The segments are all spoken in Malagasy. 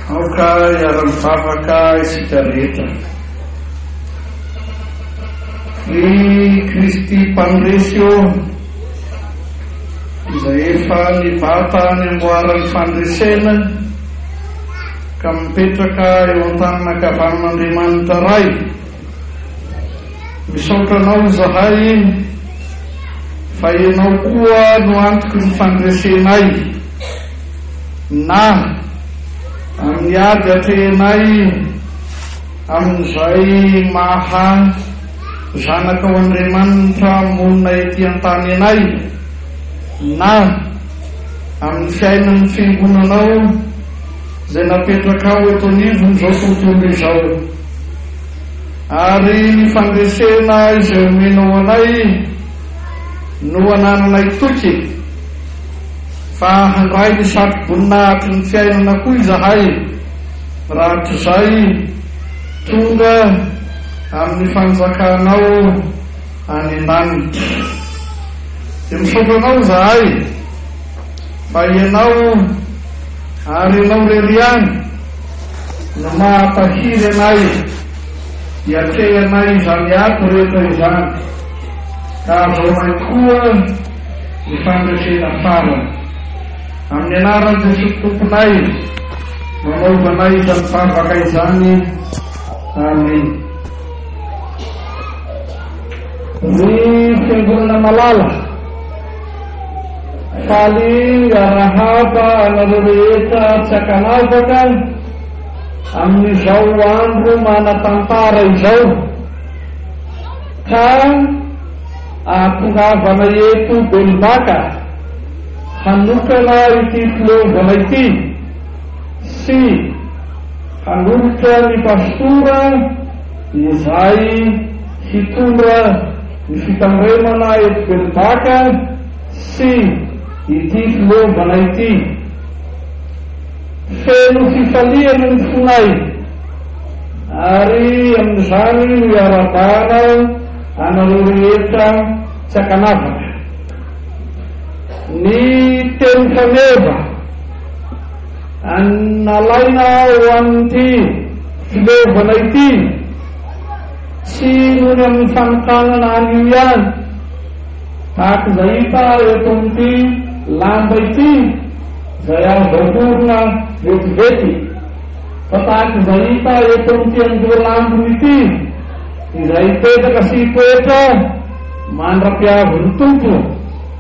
Aoka hiara-mivavaka isika rehetra. Ry Kristy Mpandresy ô, izay efa nibata ny amboaran'ny fandresena ka mipetraka eo an-tanin'ankavanan'Andriamanitra Ray, Misaotra anao izahay iny fa ianao koa no antoky ny fandresenay na amin'ny ady atrehinay amin'izay maha zanakao Andriamanitra monina ety an-tany anay na amin'ny fiainan'ny fiangonanao izay napetrakao eto anivon'izao tontolo izao. Ary ny fandresena izay omenao anay no anananay toky, fa handray ny satroboninahitry ny fiainana koa izahay, raha tsy izay, tonga amin'ny fanjakanao any an-danitra. Dia misaotra anao izahay, fa ianao, ary ianao irery ihany, Ny mahatahiry anay dia atrehanay izany ady rehetra izany, ka azahoanay koa ny fandresena farany. Amin'ny anaran'i Jesoa Tomponay no anaovanay izany vavaka izany. Amena. Ry Fiangonana malala. Faly hiarahaba anareo rehetra tsy ankanavaka amin'izao andro manan-tantara izao ka ahatongavana eto Belombaka hanokana ity fileovana ity sy hanolotra ny Pastora izay hitondra Ny fitandremana eto Belombaka sy ity filombana ity. Feno fifaliana ny fonay ary amin'izany no iarahabana anareo rehetra tsy ankanavaka. Ny teny faneva nalaina ho an'ity filombana ity. Tsy irony amin'ny fanokanana anio ihany, tahaka izay hita eto amin'ity lamba ity izay azo aorina vetivety, fa tahaka izay hita eto amin'ity andohan' ambiny ity izay hipetraka sy hitoetra mandra-piavin'ny Tompo.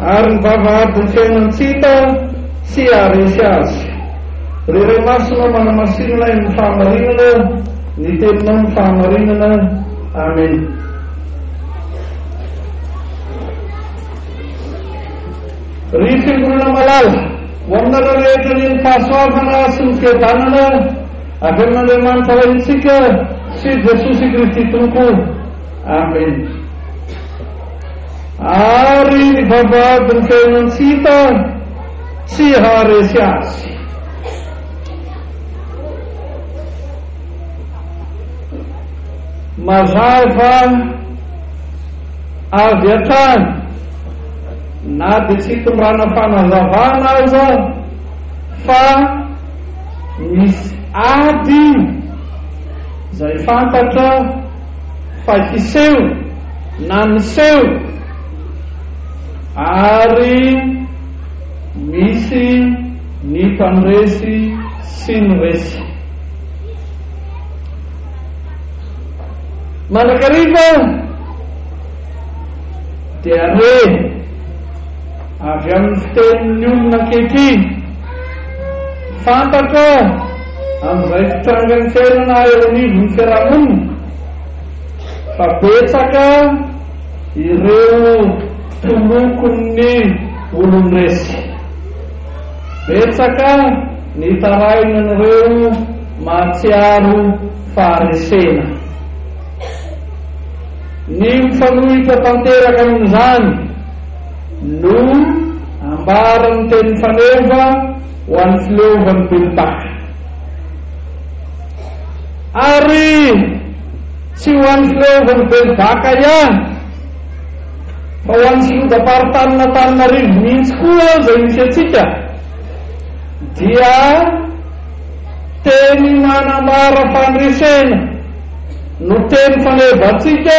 Ary ny vavahadin'ny fiainan-tsita tsy haharesy azy. Ry Ray Masina manamasinina eo amin'ny fahamarinana, ny Teninao no fahamarinana. Amen. Ry Fiangonana malala, ho aminareo rehetra anie ny fahasoavana sy ny fiadanana avy amin'Andriamanitra Raintsika sy Jesosy Kristy Tompo. Amen. Ary ny vavahadin'ny fiainan-tsita tsy haharesy azy. Mazava avy hatrany, na dia tsy itondrana fanazavana aza, fa misy ady izay fantatra, fa hiseho na miseho ary misy ny mpandresy sy ny resy. Mandrakariva dia re. Avy amin'ny fitenin'ny olona ankehitriny, fantatra amin'izay fitrangan'ny fiainana eo anivon'ny fiarahamonina fa betsaka ireo tolokon'ny olon-dresy. Betsaka ny tarainan'ireo mahatsiaro faharesena. Ny mifanohitra tanteraka amin'izany, No ambaran'ny teny faneva ho an'ny fileovan'ny ben'tany. Ary tsy ho an'ny fileovan'ny ben'baka ihany fa ho an'ny filodam-paritanin'Antananarivo mihitsy koa izay misy antsika dia teny manambara fandresena no teny fanevantsika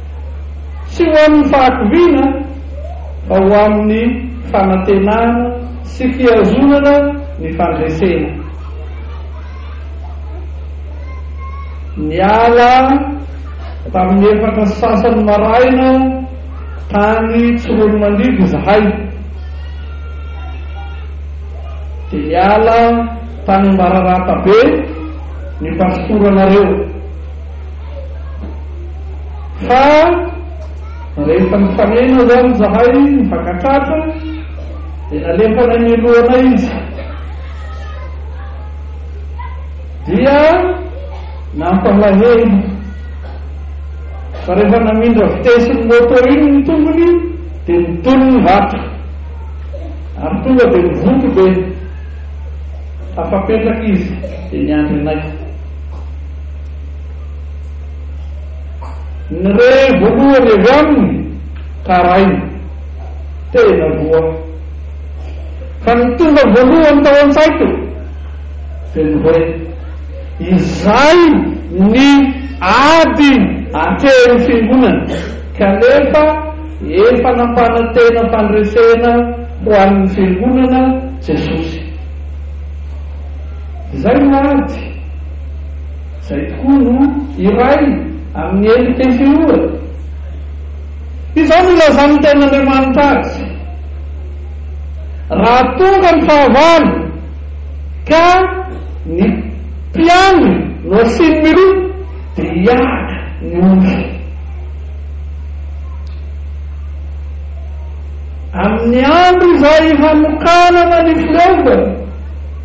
Tsy ho amin'ny fahakiviana fa ho amin'ny fanantenana sy fihazonana ny fandresena. Niala tamin'ny efatra sasany maraina tany Tsiroanomandidy izahay, dia niala tany Ambararatabe ny pasiporanareo. Fa rehefa nifanena izany izahay nifankatratra dia nalefanay ny lohanay izy. Dia nampalahelo fa rehefa namindra vitesse ny moto iny ny tongony dia nidolo ny vato ary tonga dia nivonto be. Tafapetraka izy dia niandry anay. Ny re voalohany avy aminy taraina, tena voa. Fa ny tonga voalohany tao an-tsaiko dia ny hoe, izay ny ady atehan'ny fiangonana, kanefa efa nampanantena fandresena ho an'ny fiangonana Jesosy. Izay no ady. Izay tokoa no iray amin'ny elo TCO e! Izao no ilazan'ny Tenin'Andriamanitra azy, Raha tonga ny fahavalo ka ny mpiandry no asiany miroa dia hiaka ny ondry. Amin'ny andro izay hanokanana ny firaovana.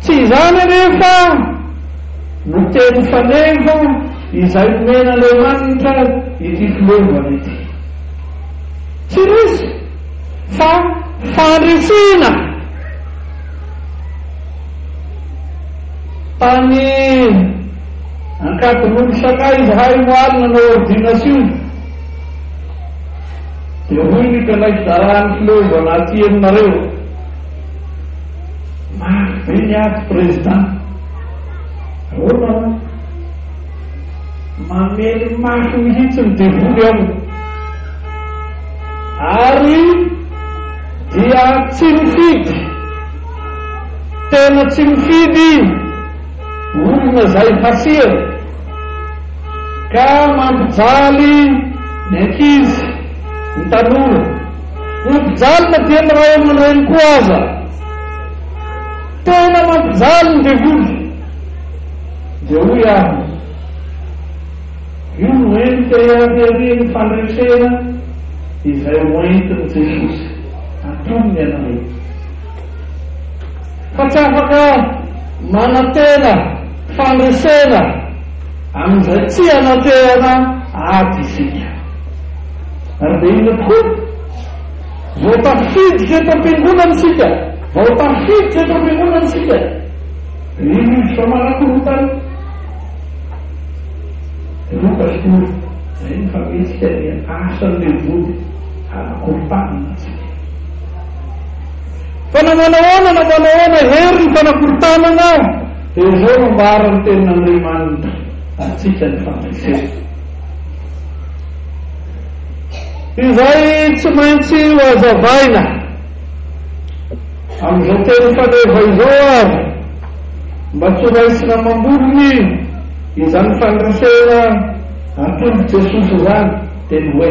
Tsy izany anefa no teny faneva izay nomen'Andriamanitra ity filovana ity. Tsy resy fa fandresena tany Ankadinondry Shanghai izahay omaly nanao ordination. Dia hoy ny Fanahy hizara ny fileovana aty aminareo, Mafy be ny ady Président. Ahoana hoy? Mamely mafy mihitsy ny devoly ao. Ary dia tsy mifidy, tena tsy mifidy. olona izay hasehony ka mampijaly ny ankizy, ny tanora. Ny mpijaly na dia ny ray aman-dreny koa aza. Tena mampijaly ny devoly. Dia hoy aho, io no endrika hihariharian'ny fandresena izay hoentin'i Jesosy. Antonony ianareo. fa tsy afaka manantena fandresena amin'izay tsy ananterana ady isika. Ary dia inona tokoa? Vao tafiditra eto am-piangonana isika, vao tafiditra eto am-piangonana isika, dia io rivotra manakorontana, dia roa pastora, izay ny famentsika dia asan'ilay vody hanakorontana antsika. Fa na manahoana na manahoana, hery ny fanakorontanana, dia izao no ambaran'ny Tenin'Andriamanitra antsika ny fandresena. Izay tsy maintsy hohazavaina amin'izao teny faneva izao ary mba tsy ho raisina amam-bolony izany fandresena atolotr'i Jesosy izany dia ny hoe,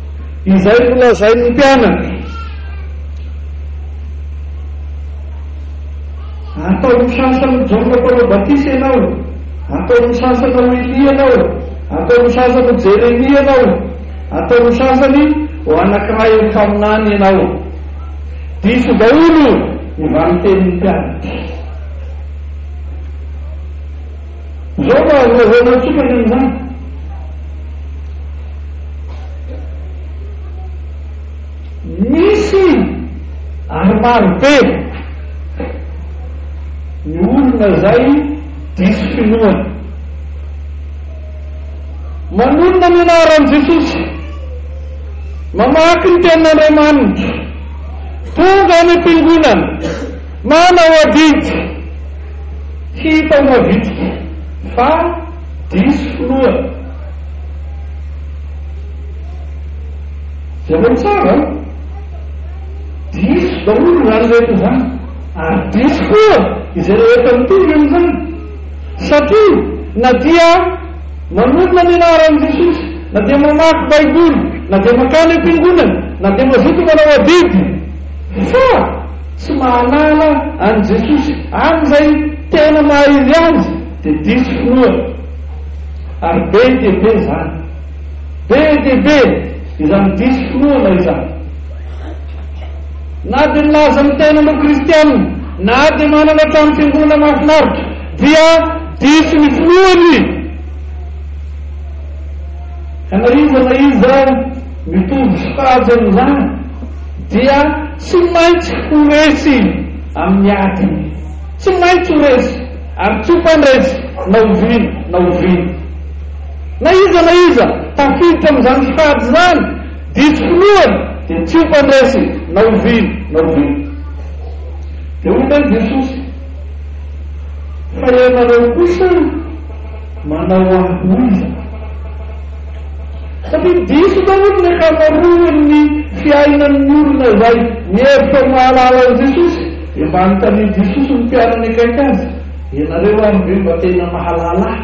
Izay nolazain'ny mpianatra. Ataon'ny sasany Jaona Mpanao Batisa ianao, ataon'ny sasany ho Elia ianao, ataon'ny sasany ho Jeremia ianao, ataon'ny sasany ho anankiray amin'ny mpaminany ianao. Diso daholo ny valintenin'ny mpianatra. Izao no azo lazaina amintsika ny amin'izany. Misy ary maro be ny olona izay diso finoana. Manonona ny anaran'i Jesosy, mamaky ny tenin'Andriamanitra, tonga any am-piangonana, Manao adidy! Hita mavitrika fa diso filoha. Jereo tsara an! Diso daholo izany rehetra izany ary diso koa izay rehetra mitovy amin'izany. Satria na dia manorina ny anaran'i Jesosy, na dia mamaky Baiboly, na dia mankany am-piangonana, na dia mazoto manao adidy, fa. Tsy mahalala an'i Jesosy any izay tena mahaely Azy dia diso finoana. Ary be dia be izany. Be dia be izany diso finoana izany. Na dia milaza ny tenany ho kristiana, na dia manana trano fiangonana mahafinaritra dia diso ny finoany. Ka na iza na iza mitovy sokajy amin'izany. dia tsy maintsy ho resy amin'ny ady, tsy maintsy ho resy ary tsy ho mpandresy na oviana na oviana. Na iza na iza tafiditra amin'izany fady izany diso finoana dia tsy ho mpandresy na oviana na oviana. Dia hoy indray Jesosy, Fa ianareo kosa manao ahoiza? Satria diso daholo ny ankamaroan'ny fiainan'ny olona izay mihevitra ho mahalala an'i Jesosy, dia mba anontanian'i Jesosy ny mpianany akaiky azy, Ianareo ary ve mba tena mahalala ahy?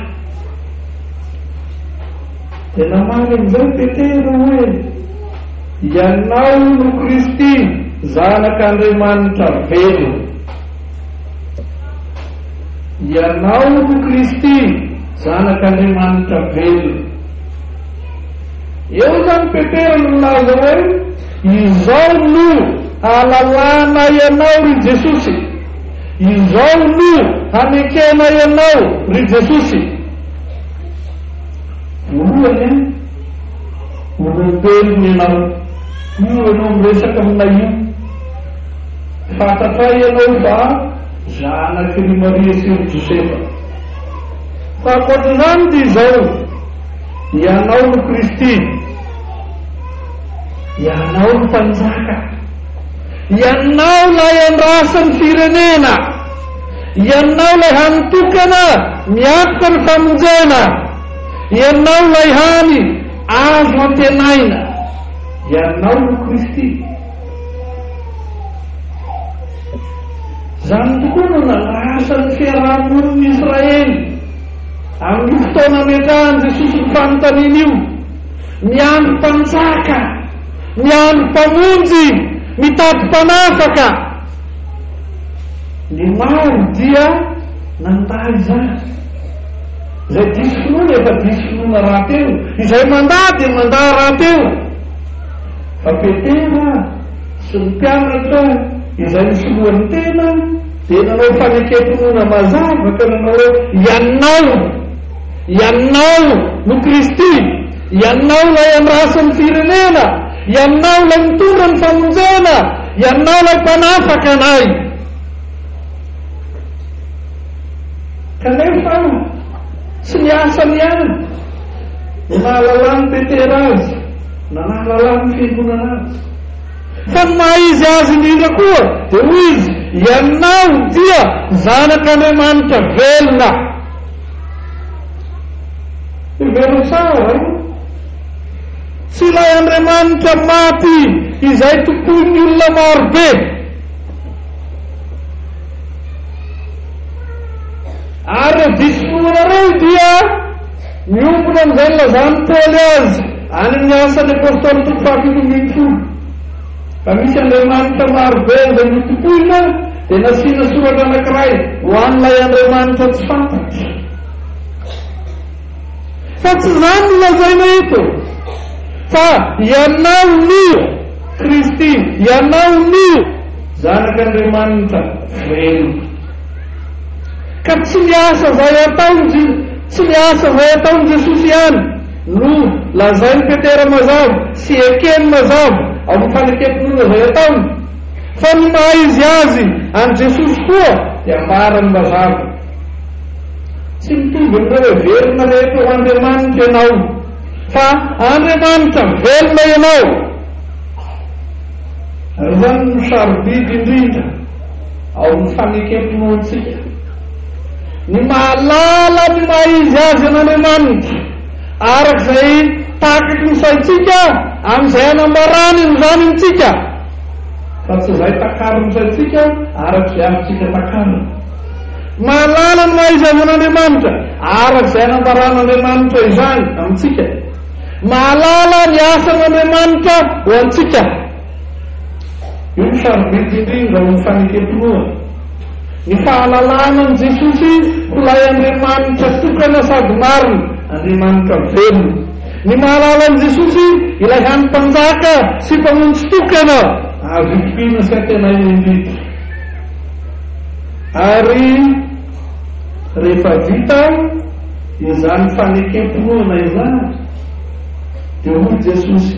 Dia namaly amin'izay i Petera hoe, Ianao no Kristy, Zanak'Andriamanitra velona. Ianao no Kristy, Zanak'Andriamanitra velona. Eo izany Petera no nilaza hoe, Izao no hahalalanay Ianao, ry Jesosy. Izao no hanekenay Ianao, ry Jesosy. Voalohany an, olombelona ianao. Io ianao miresaka aminay io. Fantatray ianao fa zanaky ry Maria sy ry Josefa. Fa ankoatr'izany dia izao, ianao no Kristy, ianao no Mpanjaka, ianao ilay andrasan'ny firenena, ianao ilay hany tokana miakoka ny famonjena, ianao ilay hany azo antenaina, ianao no Kristy. Izany tokoa no nanasa ny fiaraha-monin'i Israely amin'io fotoana ametrahan'i Jesosy ny fanontaniana io. Miandry mpanjaka, miandry mpamonjy, mitady mpanafaka. Ny maro dia nandà izany. Izay diso finoana efa diso finoana rahateo, izay mandà dia mandà rahateo. Fa Petera sy ny mpianatra izay nisoloany tena dia nanao fanekem-pinoana mazava ka nanao hoe, Ianao, Ianao no Kristy, Ianao ilay handrasa ny firenena, Ianao ilay mitondra ny famonjena, Ianao ilay mpanafaka anay. Kanefa tsy ny asany ihany no nahalalan'i Petera azy. Nanahalala ny Fiangonana azy. Fa ny maha izy azy indrindra koa dia hoy izy, Ianao dia Zanak' Andriamanitra velona. Hevero tsara io. Tsy ilay Andriamanitra maty izay tompoin'ny olona maro be. Ary ireo diso finoana ireo dia. Miompona amin'izay nilazan'i Paoly azy any amin'ny Asan'ny Apôstôly toko fahafito ambin'ny folo, fa misy andriamanitra maro be izay notompoina, dia nasiana soratra anankiray ho an'ilay andriamanitra tsy fantatra. Fa tsy izany no lazaina eto, fa ianao no Kristy, ianao no Zanak'Andriamanitra velona. Ka tsy ny asa izay ataon'i tsy ny asa izay ataon'i Jesosy ihany no lazain'i Petera mazava sy ekeny mazava ao amin'ny fanekem-pinoana izay ataony, fa ny maha izy azy an'i Jesosy koa dia ambarany mazava. Tsy mitovy amin'ireo heverina rehetra ho andriamanitra ianao, fa Andriamanitra velona ianao. Ary izany no sarobidy indrindra ao amin'ny fanekem-pinoantsika ny mahalala ny maha izy azy an'Andriamanitra araka izay takaky ny saintsika amin'izay anambarany an'izany amintsika fa tsy izay takariny ny saintsika araka izay amintsika takariny mahalala ny maha izy azy an'Andriamanitra araka izay anambaran'Andriamanitra izany amintsika mahalala ny asan'Andriamanitra ho antsika Io no sarobidy indrindra ao amin'ny fanekem-pinoana. Ny fahalalana an'i Jesosy ho Ilay Andriamanitra tokana sady marina, Andriamanitra velona. Ny mahalala an'i Jesosy Ilay hany Mpanjaka sy Mpamonjy tokana azo itokiana sy antenaina indrindra. Ary rehefa vita izany fanekem-pinoana izany, dia hoy Jesosy.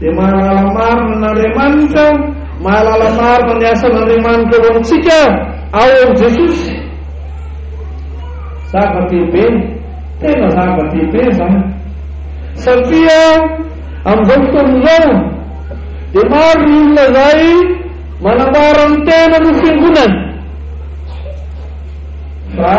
Dia mahalala marina an' Andriamanitra aho, mahalala marina ny asan' Andriamanitra ho antsika aho ao amin'i Jesosy. Zava-dehibe, tena zava-dehibe izany. Satria amin'izao fotoana izao dia maro ny olona izay manambara ny tenany ho fiangonana, fa.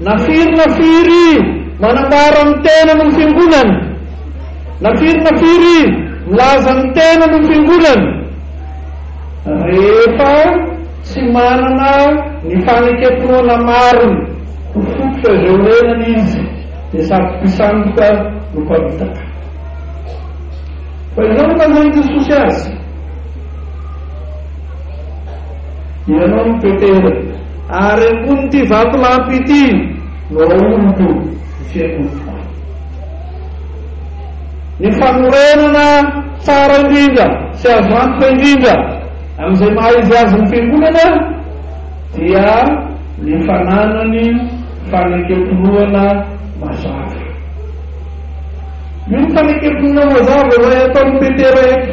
Na firy na firy manambara ny tenany ho fiangonana, na firy na firy milaza ny tenany ho fiangonana, rehefa tsy manana ny fanekem-pinoana marina ho fototra izay orenany izy, dia sady mpisandoka no mpamitaka. Fa izao no nanaovan'i Jesosy azy. Ianao no Petera, ary ambonin'ity vatolampy ity no hahoriko ny fiangonako. Ny fanorenana tsara indrindra sy azo antoka indrindra amin'izay maha izy azy ny fiangonana dia ny fananany fanekem-pinoana mazava. Io fanekem-pinoana mazava izay ataon'i Petera eto.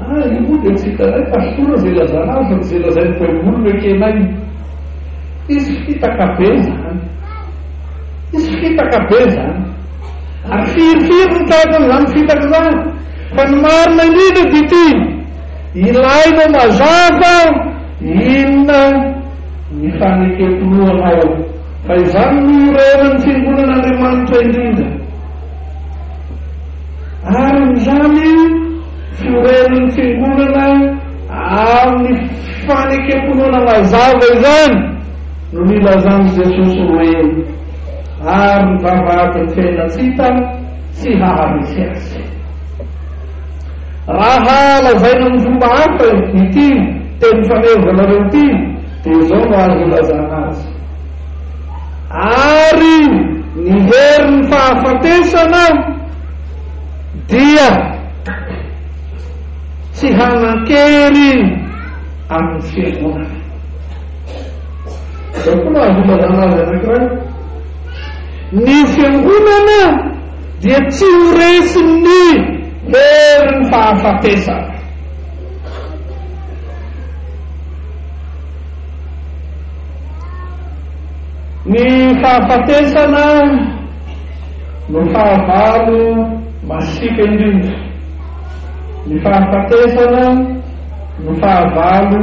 Ah, io moa dia tsy hitanay pastora izay ilazana azy fa tsy izay lazain'ny baiboly no ekenay. Hisy fitaka be izany. Hisy fitaka be izany. Ary firifiry no tahaka an'izany fitaka izany. Fa ny marina indrindra dia ity, ilainao mazava inona ny fanekem-pinoanao. Fa izany no iorenan'ny fiangonan'Andriamanitra indrindra. Arn'izany, fiorenan'ny Fiangonana amin'ny fanekem-pinoana mazava izany no nilazan'i Jesosy hoe, Ary ny vavahadin'ny fiainantsita tsy haharesy azy. Raha lazaina amin'ny fomba hafa ity teny fanevanareo ity dia izao no azo ilazana azy. Ary ny herin'ny fahafatesana dia tsy hanan-kery amin'ny Fiangonana. Izao koa no azo ilazana azy anankiray, Ny Fiangonana dia tsy ho resin'ny herin'ny fahafatesana. Ny fahafatesana no fahavalo masiaka indrindra. Ny fahafatesana no fahavalo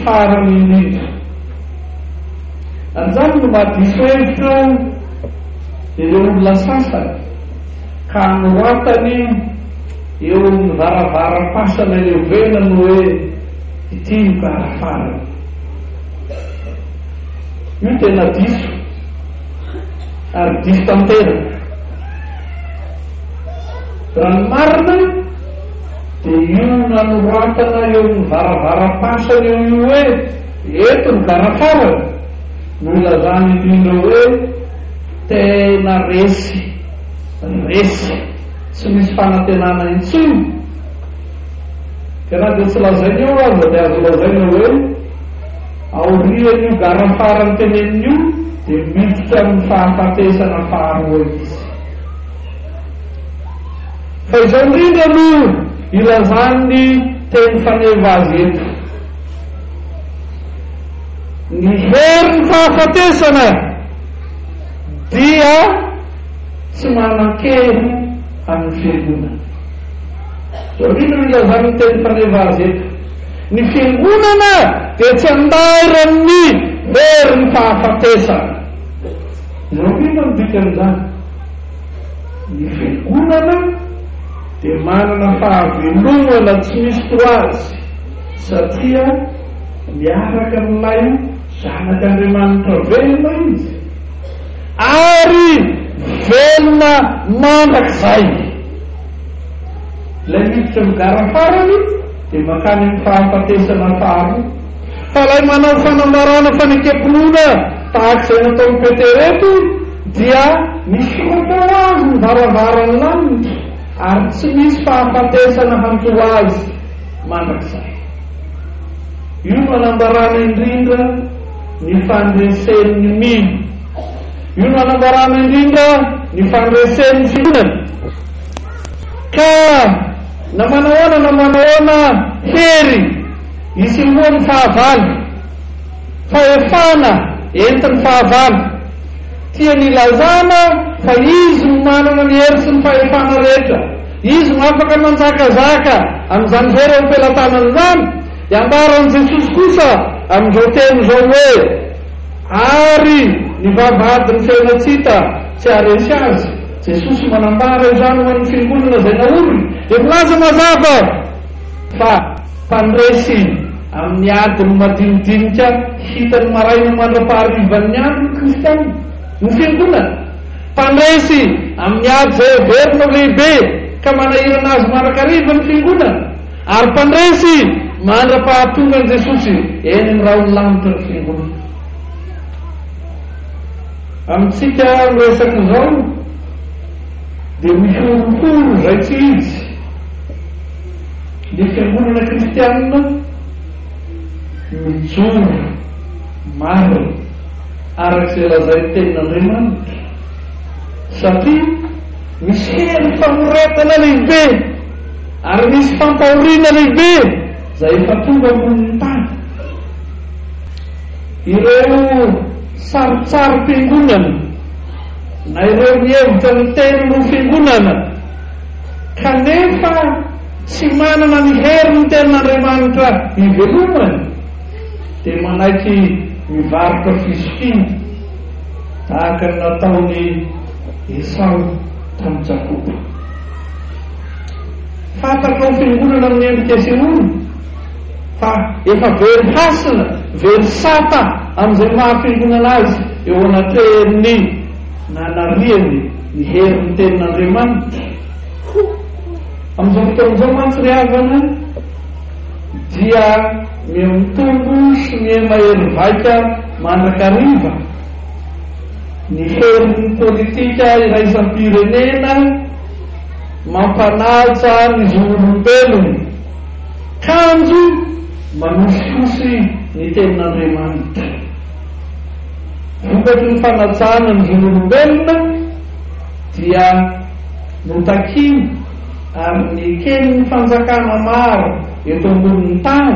farany indrindra. Anjany no mahadiso hevitra ireo olona sasany ka anoratany eo amin'ny varavaram-pasana iovenany hoe. Ny teny farafarany. Io tena diso ary diso tanteraka. Raha ny marina dia io nanoratana eo amin'ny varavaram-pasana eo io hoe eto ny varafarany no ilazana indrindra hoe tena resy, resy tsy misy fanantenana intsony. Dia na dia tsy lazainy eo aza dia azo lazaina hoe aorian'io gara farany teneniny io dia miditra amin'ny fahafatesana faharoa izy. Fa izao indrindra aloha ilazan'ny teny faneva azy eto. Ny herin'ny fahafatesana dia tsy manan-kery amin'ny fiangonana. Rino no ilazan'ny teny faneva azy eto. Ny fiangonana dia tsy andairan'ny herin'ny fahafatesana. Izao indrindra no dikan'izany. Ny fiangonana dia manana fahavelomana tsy misy toa azy satria miaraka amin'ilay Zanak'Andriamanitra velona izy ary velona mandrakizay. Ilay miditra ny gara farany dia mankany amin'ny fahafatesana faharoa. Fa ilay manao fanambarana fanekem-pinoana tahaka izay nataon'i Petera eto dia misoratra ho azy ny varavaran'ny lanitra ary tsy misy fahafatesana hanjo azy mandrakizay. Io no anambarana indrindra ny fandresen'ny mino. Io no anambarana indrindra ny fandresen'ny fitondrana ka na manahoana na manahoana hery isehoan'ny fahavalo, fahefana entin'ny fahavalo, tiany ilazana fa izy no manana ny hery sy ny fahefana rehetra, izy no afaka manjakazaka amin'izany hery eo am-pelatanany izany, dia ambaran'i Jesosy kosa amin'izao teny izao hoe. Ary ny vavahadin'ny fiainantsika tsy haharesy azy. Jesosy manambara izany ho an'ny fiangonana izay naoriny, dia milaza mazava fa mpandresy amin'ny adiny madinidinika hitany maraina mandra-paharivan'ny andro ny kristiana, ny fiangonana. Mpandresy amin'ny ady izay heverina ho lehibe ka manahirana azy mandrakariva ny fiangonana. Ary mpandresy mandra-pahatongan'i Jesosy eny amin'ny rahon'ny lanitra ny Fiangonana. Amintsika ho resaka izao dia mihorohoro izay tsy izy ny Fiangonana Kristianina mijoro marina araka izay lazain'ny Tenin'Andriamanitra satria misy hery famoretana lehibe. Ary nisy fampahoriana lehibe izay efa tonga ambonin'ny tany. Ireo sarintsarim-piangonana na ireo mihevitra miteny ho fiangonana kanefa tsy manana ny herin'ny Tenin'Andriamanitra ivelomany dia manaiky mivarotra fizokiana tahaka ny nataon'i Esao tamin'i Jakoba. Fantatra ho fiangonana amin'ny endrika sy ora, fa efa very hasina, very sata amin'izay maha fiangonana azy eo anatrehan'ny nanariany ny herin'ny Tenin'Andriamanitra. Amin'izao fotoana izao mantsy ry havana dia miha-mitombo sy miha-mahery vaika mandrakariva. Ny feon'ny politika iraisam-pirenena mampanaja ny zon'olombelona, kanjo manosihosy ny tenin'Andriamanitra. Vokatry ny fanajana ny zon'olombelona dia notakina ary neken'ny fanjakana maro eto ambonin'ny tany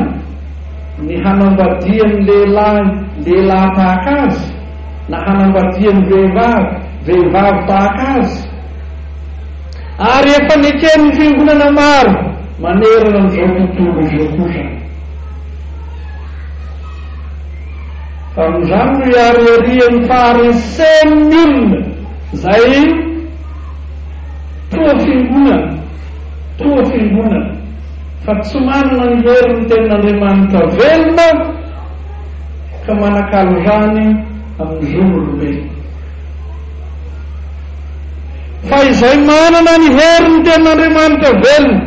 ny hanambadian'ny lehilahy lehilahy tahaka azy, na hanambadiany vehivavy, vehivavy tahaka azy. Ary efa neken'ny fiangonana maro manerana an'izao tontolo izao kosa. Fa noho izany no iariarian'ny faharesen'ny olona izay toa fiangonana, toa fiangonana, fa tsy manana ny herin'ny tenin'Andriamanitra velona, ka manakalo rany amin'ny zon'olombelona. Fa izay manana ny herin'ny Tenin'Andriamanitra velona,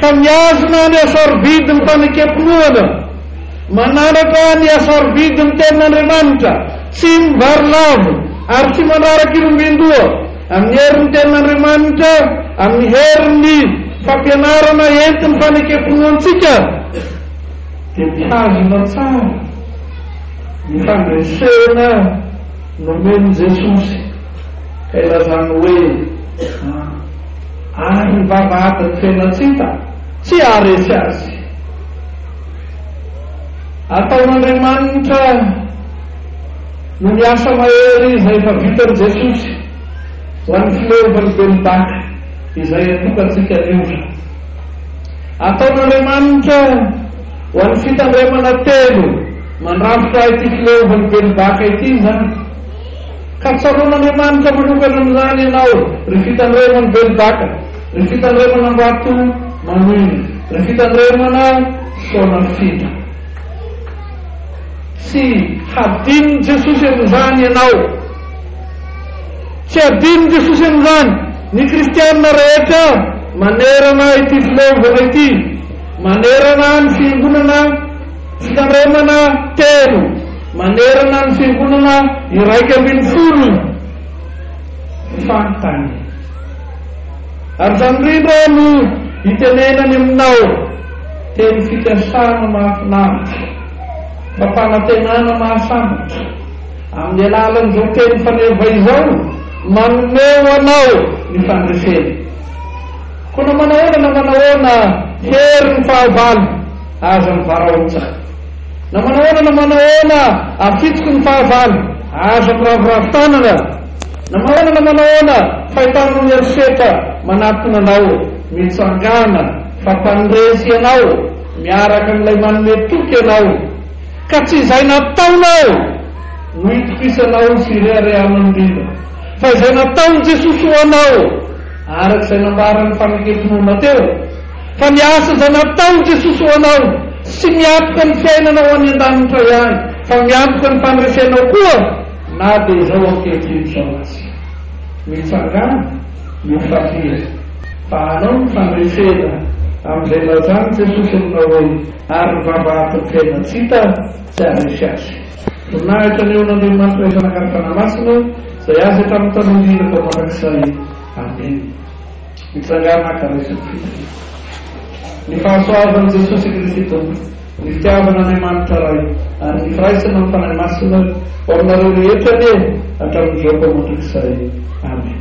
ka mihazona ny hasarovidin'ny fanekem-pinoana, manandratra ny hasarovidin'ny Tenin'Andriamanitra, tsy mivarilavo ary tsy mandrara kirombin-doha amin'ny herin'ny Tenin'Andriamanitra amin'ny herin'ny fampianarana entin'ny fanekem-pinoantsika, dia mitazona tsara ny fandresena nomen'i Jesosy ka ilazany hoe, Ah, ary ny vavahadin'ny fenan-tsita tsy haharesy azy. Ataon'Andriamanitra no miasa mahery izay efa vitan'i Jesosy ho an'ny fileovan'ny belon-daka izay antokantsika ny ora. Ataon'Andriamanitra ho an'ny fitandremana telo mandrafitra ahy ity fileovan'i Belobaka ity izany. Ka tsaroan'Andriamanitra manokana amin'izany ianao, ry fitandreman'i Belobaka, ry fitandreman'Ambato manoina, ry fitandremana Soanafindra. Tsy hadinon'i Jesosy amin'izany ianao. Tsy adinon'i Jesosy amin'izany ny kristiana rehetra manerana ity fileovana ity, manerana ny fiangonana fitandremana telo, manerana ny fiangonana iraika ambin'ny folo fantany. Ary izany indrindra no itenenany aminao, teny fikasana mahafinaritra, fampanantenana mahasambatra. Amin'ny alalan'izao teny faneva izao, manome ho anao ny fandresena. Koa na manahoana na manahoana, hery ny fahavalo, aza mivaraotsa. Na manahoana na manahoana, afitoky ny fahavalo, aza miraviravy tanana. Na manahoana na manahoana, fahitanao ny herisetra manatona anao, mitsangàna, fa mpandresy ianao, miaraka amin'ilay manome toky anao. Ka tsy izay nataonao no itokisanao sy ireharehanao indrindra, fa izay nataon'i Jesosy ho anao, araka izay nambaran'ny Fanekem-pinoana teo, fa ny asa izay nataon'i Jesosy ho anao, tsy miantoka ny fiainanao any an-danitra ihany, fa miantoka ny fandresenao koa, na dia izao ankehitriny izao aza. Mitsangàna io fafy io, fa anao ny fandresena, amin'izay nilazan'i Jesosy aminao hoe. Ary ny vavahadin'ny fiainana tsy hita tsy haharesy azy. Voninahitra ny eon'Andriamanitra izay naka ny Fanahy Masina izay azy hatramin'ny taloha indrindra vao mandrakizay. Amen. Mitsangàna haka resy ny fitariana. Ny fahasoavan'i Jesosy Kristy Tompo, ny fitiavan'Andriamanitra Ray, ary ny firaisana amin'ny Fanahy Masina ho aminareo rehetra anie hatramin'izao vao mandrakizay. Amen.